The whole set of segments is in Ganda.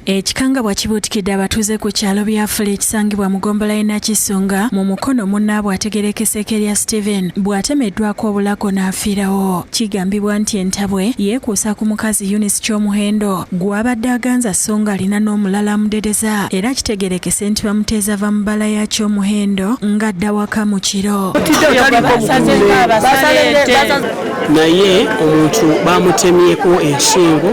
Ekikangabwa kibuutikidde abatuuze ku kyalo byafula ekisangibwa mu gombola y'e Nakisunga mu Mukono munnaabwe ategerekeseeko erya Steven bw'atemeddwako obulako n'afiirawo. Kigambibwa nti entabwe yeekuusa ku mukazi Eunice Kyomuhendo gw'abadde aganza sso ng'alina n'omulala amudedeza era kitegerekese nti bamuteeza va mu bbala ya Kyomuhendo ng'adda waka mu kiro. Naye omuntu baamutemyeko ensingo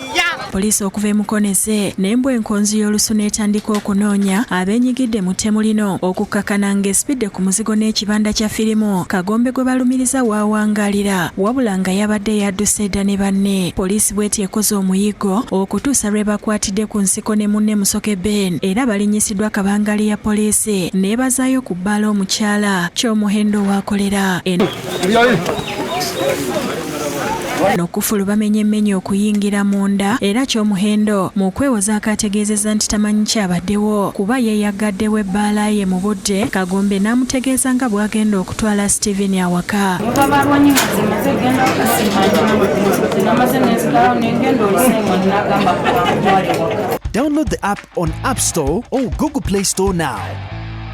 Poliisi okuva e Mukonese n'embwa enkonzi y'olusu n'etandika okunoonya abeenyigidde mu ttemu lino okukkakana ng'esipidde ku muzigo n'ekibanda kya firimu Kagombe gwe balumiriza waawangaalira wabula nga yabadde yadduse dda ne banne. Poliisi bweti ekoze omuyiggo okutuusa lwe bakwatidde ku nsiko ne munne Musoke Ben era balinyisiddwa kabangali ya poliisi n'ebazaayo ku bbaala omukyala ky'omuhendo waakolera. no kufulu bamenye menye okuyingira munda era kyomuhendo mu kwewoza akaategeezezza nti tamanyi kyabaddewo kuba yeeyaggaddewo ebbaala ye mu budde kagombe n'amutegeeza nga bw'agenda okutwala steven awaka Download the app on App Store or Google Play Store now.